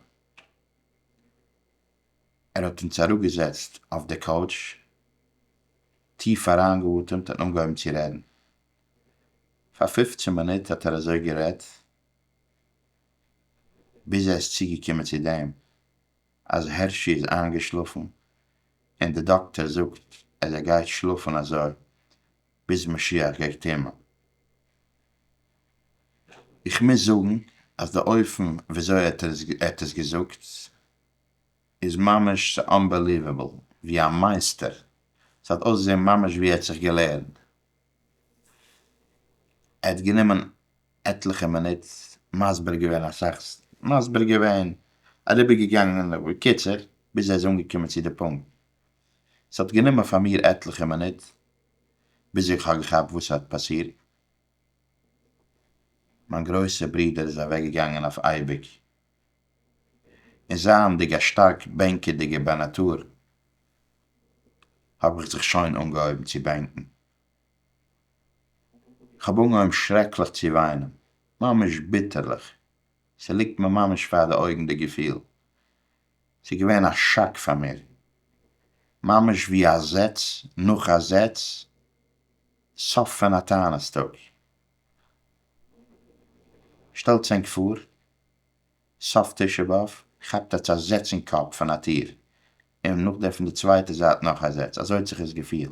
ער האט אונז אראפגעזעצט אויף די קאוטש, טיף אריינגעאטעמט און אנגעהויבן צו רעדן. פאר פופצן מינוט האט ער אזוי גערעדט, ביז ער איז צוגעקומען צו דעם אז הערשי איז איינגעשלאפן, און די דאקטער זאגט אז ער גייט שלאפן אזוי ביז משיח גייט קומען. איך מוז זאגן אז די אופן וויאזוי ער האט עס געזאגט איז ממש אנבעליוועבל, ווי א מייסטער, ס'האט אויסגעזען ממש ווי ער האט זיך געלערנט ער האט גענומען עטליכע מינוט מסביר געווען אסאך מסביר געווען אריבער געגאנגען בקיצור ביז ער איז אנגעקומען צו די פונקט, ס'האט גענומען פאר מיר עטליכע מינוט ביז איך האב געכאפט וואס ס'האט פאסירט, מיין גרויסע ברודער איז אוועק געגאנגען אויף אייביג און זייענדיג א שטארק בענקעדיגער ביי נאטור, האב איך זיך שוין אנגעהויבן צו בענקן. כ'האב אנגעהויבן שרעקליך צו וויינען, ממש ביטערליך, ס'ליגט מיר ממש פאר די אויגן די געפיל. ס'איז געווען א שאק פאר מיר, ממש ווי א זעץ נאך א זעץ, סוף פון א טענעס טאג. שטעלטס ענק פאר, סוף תשעה באב כאפט עטס א זעץ אין קאפ פון א טיר, און נאך דעם פון די צווייטע זייט נאך א זעץ, אזוי האט זיך עס געפילט.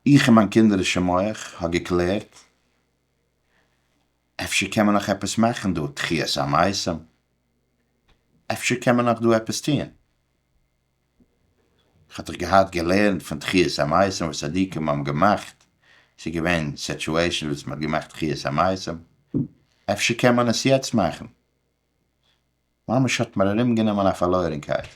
איך אין מיין קינדערישע מח האב געקלערט, אפשר קען מען נאך עפעס מאכן דא, תחיית המתים, אפשר קען מען נאך דא עפעס טון. האט איך געהאט געלערנט פון תחיית המתים וואס צדיקים האבן געמאכט, ס'איז געווען סעטשועישאנס וואס מ'האט געמאכט תחיית המתים, אפשר קען מען עס יעצט מאכן? ממש האט מיר ארום גענומען א פארלוירענקייט,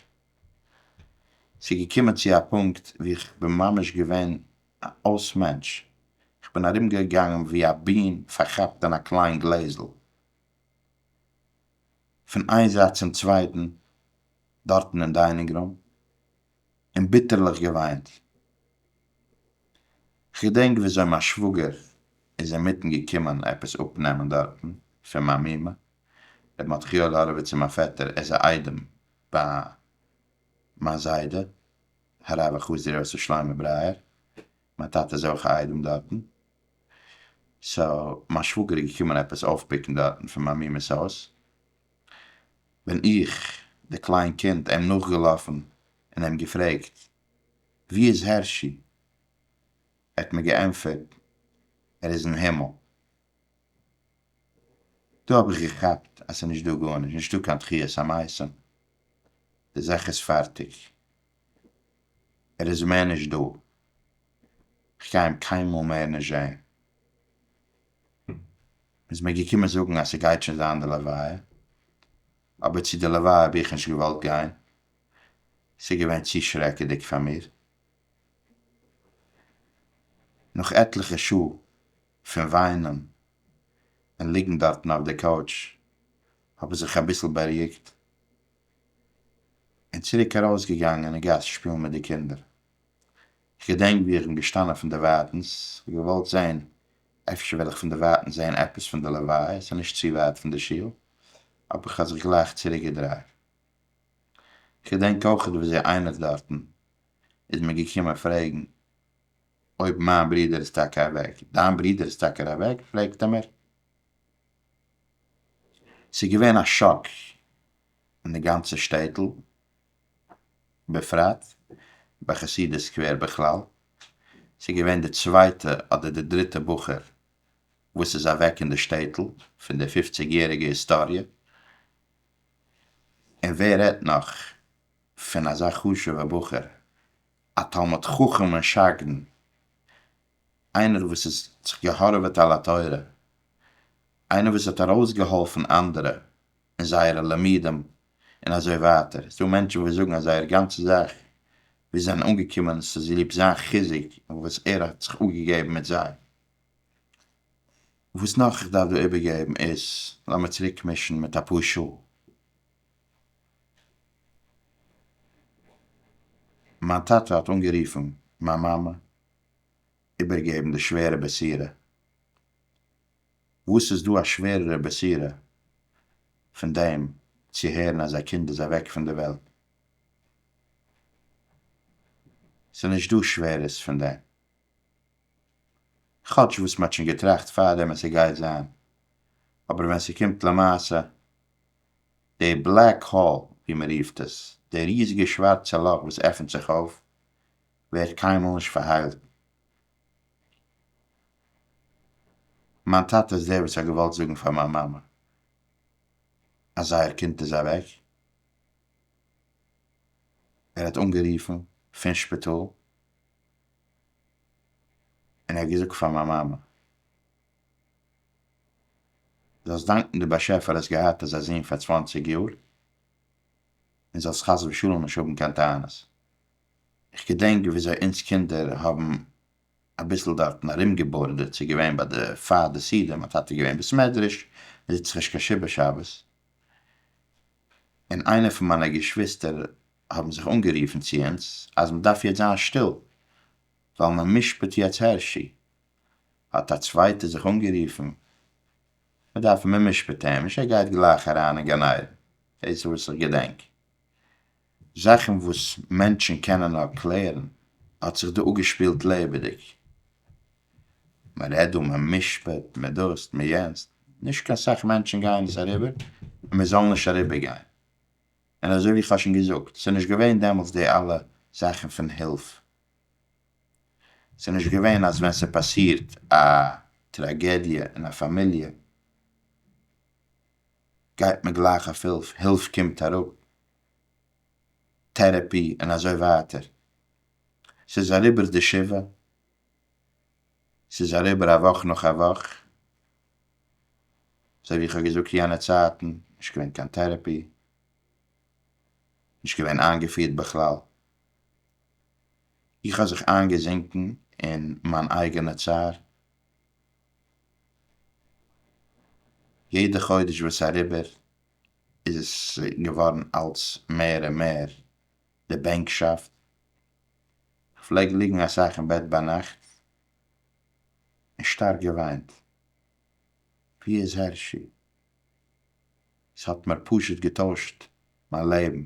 ס'איז געקומען צו א פונקט ווי איך בין ממש געווען א אויס מענטש, איך בין ארום געגאנגען ווי א בין פארכאפט אין א קליין גלעזל. פון איין זייט צום צווייטן דארטן אין דיינינג רום און ביטערליך געוויינט. כ'געדענק וויאזוי מיין שוואגער איז אינמיטן געקומען עפעס אפנעמען דארטן פון מיין מומע ר' מטכיאל האראוויץ און מיין פעטער איז א איידעם ביי מיין זיידע הרב החסיד ר' יוסף שלמה ברייער מיין טאטע איז אויך א איידעם דארטן, סאו מיין שוואגער איז געקומען עפעס אויפפיקן דארטן פון מיין מומע'ס הויז, בין איך די קליין קינד אים נאכגעלאפן און אים געפרעגט ווי איז הערשי? ער האט מיר געענטפערט ער איז אין הימל. דא האב איך געכאפט אז ס'נישט דא גארנישט, נישטא קיין תחיית המתים, די זאך איז פארטיג. ער איז מער נישט דא, איך גיי אים קיינמאל מער נישט זעהן. מ'איז מיר געקומען זאגן אז ס'גייט שוין זיין די לוויה, אבער צו די לוויה האב איך נישט געוואלט גיין, ס'איז געווען צו שרעקעדיג פאר מיר. נאך עטליכע שעה פון וויינען און ליגן דארטן אויף די קאוטש האב איך זיך אביסל בארואיגט, און צוריק ארויס געגאנגען אין גאס שפילן מיט די קינדער, איך געדענק ווי איך בין געשטאנען פון דערווייטענס, געוואלט זען אפשר וועל איך פון דערווייטענס זען עפעס פון די לוויה, עס איז נישט צו ווייט פון די שול, אבער איך האב זיך גלייך צוריק געדרייט, איך געדענק אויכעט ווי אזוי איינער דארטן איז מיר געקומען פרעגן אויב מיין ברודער איז טאקע אוועק, דיין ברודער איז טאקע אוועק? פרעגט ער מיר. ס'איז געווען א שאק אין די גאנצע שטעטל בפרט, ביי חסידי סקווער בכלל, ס'איז געווען די צווייטע אדער די דריטע בחור וואס איז אוועק אין די שטעטל פון די פופציג יעריגע היסטאריע, און ווער רעדט נאך פון אזא חשובע בחור, א תלמיד חכם און שגרן, איינער וואס איז זיך געהארעוועט על התורה, איינער וואס האט ארויסגעהאלפן אנדערע אין זייערע לימודים און אזוי ווייטער, ס'דא מענטשן וואס זאגן אז זייער גאנצע זאך וואו זיי זענען אנגעקומען איז צוליב זיין חיזוק און וואס ער האט זיך אפגעגעבן מיט זיי. וואס נאך איך דארף דא איבערגעבן איז, לאמיר צוריקמישן מיט אפאר שעה מיין טאטע האט אנגערופן מיין מאמע איבערגעבן די שווערע בסירה. וואס איז דא א שווערערע בסירה פון דעם צו הערן אז א קינד איז אוועק פון די וועלט? ס'איז נישט דא שווערערס פון דעם. כאטש וואס מ'האט שוין געטראכט פארדעם אז ס'גייט זיין, אבער ווען ס'קומט למעשה, די בלעק האול ווי מ'רופט עס, די ריזיגע שווארצע לאך וואס עפנט זיך אויף, ווערט קיינמאל נישט פארהיילט. מיין טאטע איז דער וואס האט געוואלט זאגן פאר מיין מאמע אז זייער קינד איז אוועק, ער האט אנגערופן פון שפיטאל און ער האט געזאגט פאר מיין מאמע זאלסט דאנקן די באשעפער האסט געהאט אזא זון פאר צוואנציג יאר און זאלסט חס ושלום נישט האבן קיין טענות. איך געדענק וויאזוי אונז קינדער האבן אביסל דארטן ארומגעבארדעט, ס'איז געווען ביי די פאר די סידור, מיין טאטע איז געווען בסמעדרעש, מען זיצט זיך נישט קיין שבעה שבת, און איינע פון מיינע געשוויסטער האבן זיך אנגערופן צו אונז אז מען דארף יעצט זיין שטיל ווייל מען משפט יעצט הערשי, האט א צווייטער זיך אנגערופן מען דארף מען משפט אים נישט ער גייט גלייך אריין אין גן עדן, דאס איז וואס איך געדענק. זאכן וואס מענטשן קענען נאר קלערן האט זיך דא אפגעשפילט לעבעדיג. מען רעדט דא, מען משפט, מען דאס, מען יענץ, נישט קיין סאך מענטשן גייען עס אריבער און מען זאל נישט אריבערגיין. און אזוי ווי איך האב שוין געזאגט, ס'איז נישט געווען דעמאלטס די אלע זאכן פון הילף, ס'איז נישט געווען אז ווען ס'פאסירט א טראגעדיע אין א פאמיליע גייט מען גלייך אויף הילף, הילף קומט אראפ טערעפי און אזוי ווייטער, ס'איז אריבער די שבעה, ס'איז אריבער א וואך נאך א וואך, אזוי ווי איך האב געזאגט יענע צייטן, נישט געווען קיין טערעפי, נישט געווען איינגעפירט בכלל, איך האב זיך איינגעזינקן אין מיין אייגענע צער, יעדע חודש וואס איז אריבער איז געווארן אלץ מער און מער די בענקשאפט, כ'פלעג ליגן אסאך אין בעט ביינאכט און שטארק געוויינט, ווי איז הערשי? ס'האט מיר פשוט געטוישט מיין לעבן,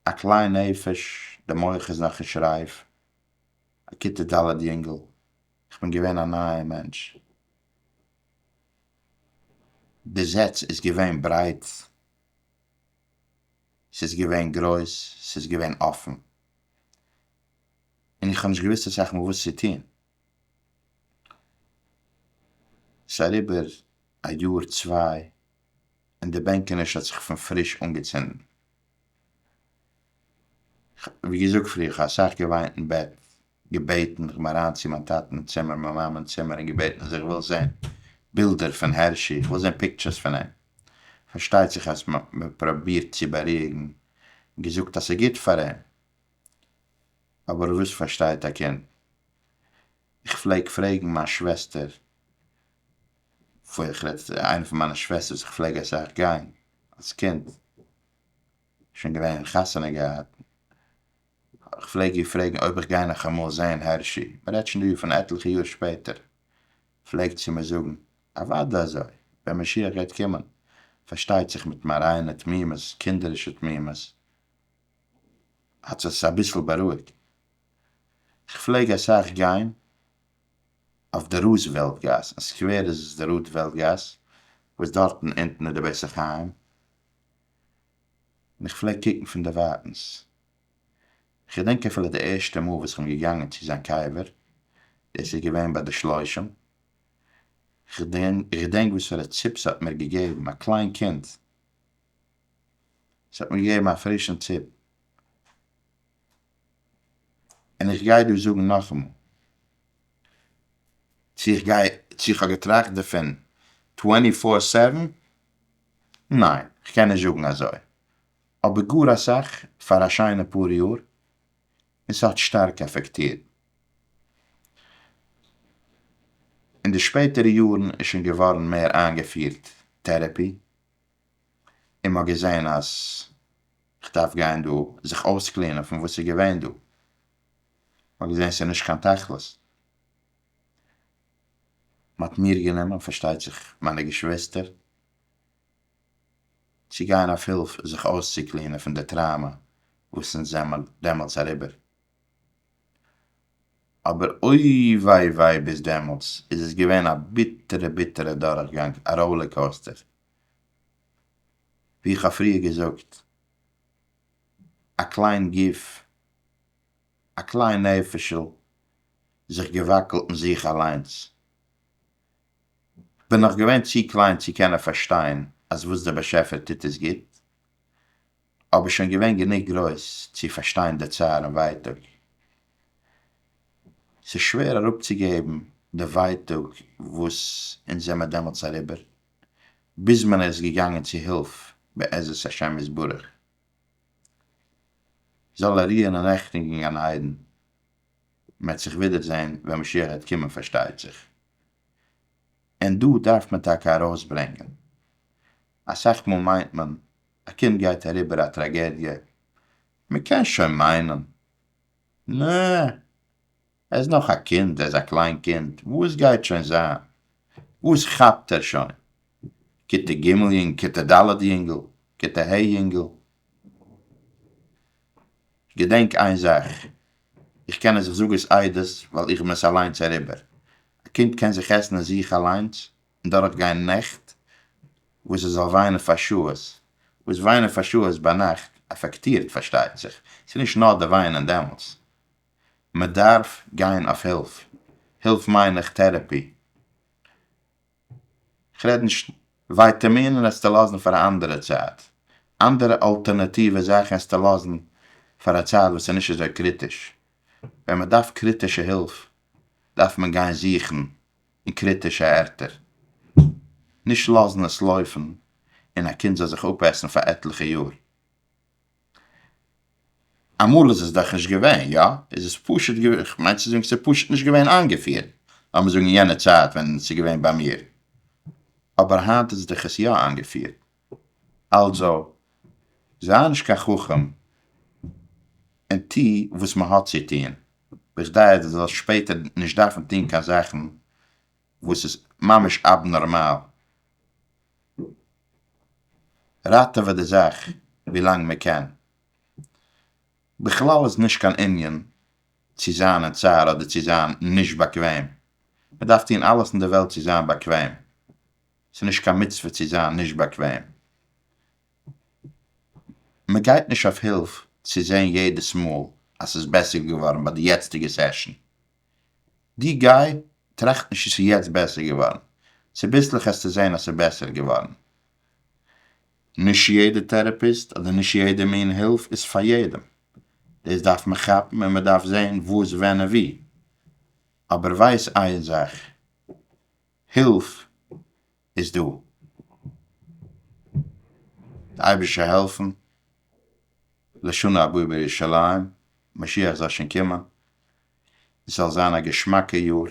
א קליין נפש, די מח איז נאך נישט רייף, א כיתה ד' יונגל, כ'בין געווען א נייע מענטש. די זעץ איז געווען ברייט, ס'איז געווען גרויס, ס'איז געווען אפן, און איך האב נישט געוואוסט אסאך מאל וואס צו טון. ס'איז אריבער א יאר צוויי און די בענקעניש האט זיך פון פריש אנגעצינדן. כ'האב ווי געזאגט פריער, כ'האב אסאך געוויינט אין בעט. געבעטן כ'בין אריין צו מיין טאטען צימער מיין מאמען צימער און געבעטן אז איך וויל זעהן בילדער פון הערשי איך וויל זעהן פיקטשערס פון אים פארשטייט זיך אז מען פראבירט צו באריאיגן געזאגט אז ס'גוט פאר אים אבער וואס פארשטייט א קינד איך פלעג פרעגן מיין שוועסטער פון איך רעד איינע פון מיינע שוועסטערס איך פלעג אסאך גיין אלס קינד שוין געווען און חתונה געהאט. איך פלעג איר פרעגן אויב איך גיי נאך אמאל זעהן הערשי, מען רעדט שוין דא פון עטליכע יאר שפעטער, פלעגט זי מיר זאגן, אוודאי אזוי, ווען משיח גייט קומען, פארשטייט זיך מיט מיין ריינע תמימות, קינדערישע תמימות, האט זיך עס אביסל בארואיגט. איך פלעג אסאך גיין אויף די רוזוועלט גאס, אין סקווער איז עס די רודוועלט גאס, וואס דארטן אונטן איז די בית החיים, און איך פלעג קוקן פון דערווייטנס. כ'געדענק אפילו די ערשטע מאל וואס כ'בין געגאנגען צו זיין קבר, דאס איז געווען ביי די שלושים. כ'געדענק וואספארא ציפ ס'האט מיר געגעבן, א קליין קינד. ס'האט מיר געגעבן א פרישן ציפ. און איך גיי דא זאגן נאכאמאל, צו איך גיי, צו איך האב געטראכט דערפון טווענטי פאר סעווען, ניין, כ'קען נישט זאגן אזוי, אבער גאר אסאך פאר א שיינע פאר יאר, און ס'האט שטארק אפעקטירט. אין די שפעטערע יארן איז שוין געווארן מער איינגעפירט טערעפי, און מ'האט געזען אז כ'דארף גיין דא זיך אויסקלינען פון וואס איז געווען דא, מ'האט געזען ס'איז נישט קיין תכלית. מ'האט מיר גענומען, פארשטייט זיך מיינע געשוועסטער, צו גיין אויף הילף זיך אויסצוקלינען פון די טראומא וואס אונז זעמער דעמאלטס אריבער. אבער אוי וויי וויי ביז דעמאלטס איז עס געווען א ביטערע ביטערע דורכגאנג, א ראולער קאוסטער. ווי איך האב פריער געזאגט, א קליין גוף אַ קליין נעפֿישל, זיך געוואַקלט אין זיך אַליינס. כ'בין נאָך געווען צו קליין צו קענען פֿאַרשטיין, אַז וואָס דער באַשעפֿער טוט איז גוט, אָבער שוין געווען גענוג גרויס צו פֿאַרשטיין די צער און ווייטאָג. ס'איז שווער אַראָפּצוגעבן די ווייטאָג וואָס אונז זעמער דעמאָלט אַריבער, ביז מען איז געגאַנגען צו הילף בעזרת השם יתברך. זאל ער רוען אין רעכטונג אין גן עדן, מען וועט זיך ווידער זען ווען משיח וועט קומען פארשטייט זיך. און דא דארף מען טאקע ארויס ברענגען, אסאך מאל מיינט מען א קינד גייט אריבער א טראגעדיע, מען קען שוין מיינען, נע! ער איז נאך א קינד, ער איז א קליין קינד, וואס גייט שוין זיין? וואס כאפט ער שוין? כיתה ג' יונג, כיתה ד' יונגל, כיתה ה' יונגל? געדענק איין זאך, איך קען עס, איך זאג עס עדות ווייל איך בין עס אליינס אריבער, א קינד קען זיך עסן אין זיך אליינס און דורך גיין נעכט וואס ער זאל וויינען פאר שעות, וואס וויינען פאר שעות ביינאכט אפעקטירט פארשטייט זיך, ס'איז נישט נאר די וויינען דעמאלטס, מ'דארף גיין אויף הילף, הילף מיין איך טערעפי, כ'רעד נישט, ווייטעמינען העסטו לאזן פאר א אנדערע צייט, אנדערע אלטערנעטיווע זאכן העסטו לאזן פאר א צייט וואס איז נישט אזוי קריטיש, ווען מ'דארף קריטישע הילף דארף מען גיין זוכן אין קריטישע ערטער, נישט לאזן עס לויפן און א קינד זאל זיך אפעסן פאר עטליכע יאר. אמאל איז עס דאך נישט געווען, יא? איז עס פשוט געווען, איך מיין צו זאגן ס'איז פשוט נישט געווען איינגעפירט, לאמיר זאגן אין יענע צייט ווען ס'איז געווען ביי מיר, אבער היינט איז דאך עס יא איינגעפירט, אלזא, זיי נישט קיין חכם און טו וואס מ'האט צו טון, בכדי אז דו זאלסט שפעטער נישט דארפן טון קיין זאכן וואס איז ממש אבנארמאל, ראטעווע די זאך ווילאנג מען קען, בכלל איז נישט קיין ענין צו זיין אין צער אדער צו זיין נישט באקוועם, מען דארף טון אלעס אין די וועלט צו זיין באקוועם, ס'איז נישט קיין מצוה צו זיין נישט באקוועם, מען גייט נישט אויף הילף צו זען יעדעס מאל אז ס'איז בעסער געווארן ביי די יעצטיגע סעשאן. די גיי טראכט נישט צו ס'איז יעצט בעסער געווארן, צוביסלעך העסטו זעהן אז ס'איז בעסער געווארן. נישט יעדע טערעפיסט אדער נישט יעדע מין הילף איז פאר יעדעם, דאס דארף מען כאפן און מ'דארף זעהן וואס ווען און ווי, אבער ווייס איין זאך, הילף איז דא. די אייבישע העלפן לשנה הבאה בירושלים, משיח זאל שוין קומען, עס זאל זיין א געשמאקע יאר.